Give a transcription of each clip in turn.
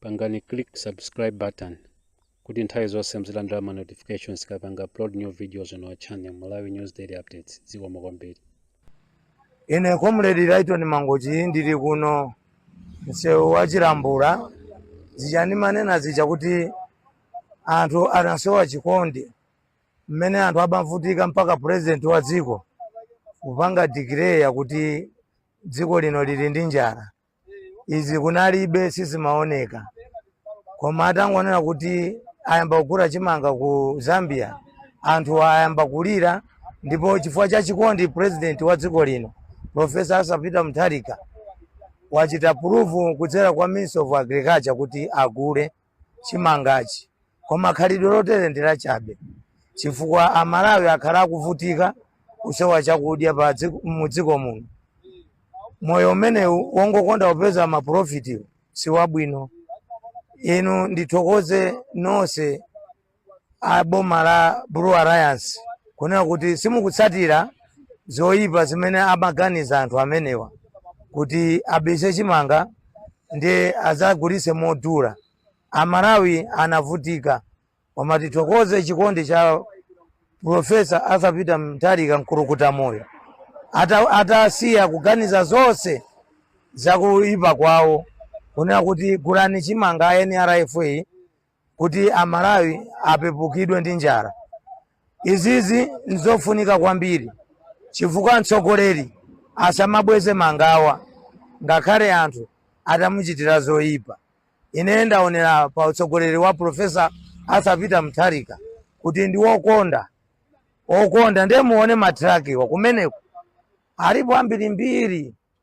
pangani click subscribe button kuti nthawi zonse muzilandira ma notifications tikapanga upload new videos on our channel malawi news daily updates zikomo kwambiri ine comrade Lyton Mangochi ndili kuno msewu wa Chilambula zija ndimanena zija kuti anthu anasowa chikondi mmene anthu amavutika mpaka president wa dziko kupanga declare kuti dziko lino lili ndi njala izi kunalibe sizimaoneka koma atangonena kuti ayamba kugula chimanga ku zambia anthu ayamba kulira ndipo chifukwa cha chikondi president wa dziko lino profesa arthur peter mutharika wachita approve kudzera kwa minister of agriculture kuti agule chimangachi koma khalidwe lotere ndi lachabe chifukwa amalawi akhala akuvutika kusowa chakudya pa dziko- mu dziko muno moyo umenewu wongokonda kupeza mapulofiti si wabwino inu ndithokoze nonse a boma la Blue Alliance kunena kuti simukutsatira zoyipa zimene amaganiza anthu amenewa kuti abise chimanga ndiye adzagulitse modula. Amalawi anavutika koma tithokoze chikondi cha Profesa Arthur Peter Mutharika mkulukuta moyo atasiya kuganiza zonse zakuyipa kwawo kunena kuti gulani chimanga a NFRA kuti Amalawi apepukidwe ndi njala. Izizi n'zofunika kwambiri chifukwa mtsogoleri asamabweze mangawa ngakhale anthu atamuchitira zoipa. Ine ndaonera pa utsogoleri wa Professor Arthur Peter Mutharika kuti ndi wokonda okonda ndiye muone matrakiwa kumeneko alipo ambirimbiri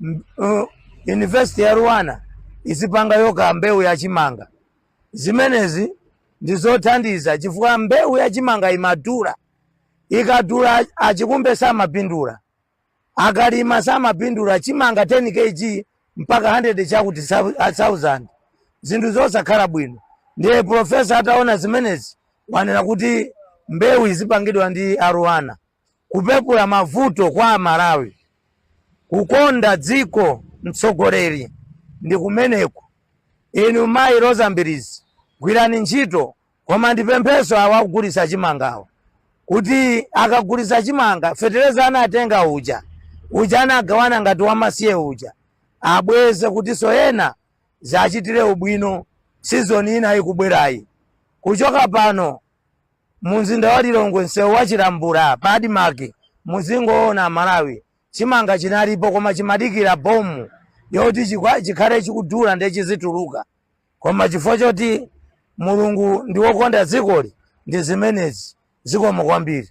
M- uh, University ya LUANAR izipanga yokha mbewu ya chimanga. Zimenezi ndi zothandiza chifukwa mbewu ya chimanga imadula. Ikadula achikumbe samapindula. Akalima samapindula chimanga 10 kg mpaka 100 chakuti sau- a 1000. Zinthu zosakhala bwino. Ndiye profesa ataona zimenezi wanena kuti mbewu izipangidwa ndi a LUANAR. kupepula mavuto kwa amalawi. Kukonda dziko mtsogoleri ndi kumeneko. Inu mayi Roza Mbilizi gwirani ntchito koma ndipemphenso awo akugulitsa chimangawo kuti akagulitsa chimanga fetereza anatenga uja uja anagawana ngati wamasiye uja abweze kutinso ena adzachitire ubwino sizoni ina ikubwerayi kuchoka pano mu mzinda wa lilongwe msewu wa chilambula pa admark muzingoona amalawi chimanga chinalipo koma chimadikira bomu yoti chikwa- chikhale chikudula ndiye chizituluka koma chifukwa choti mulungu ndi wokonda dzikoli ndi zimenezi zikomo kwambiri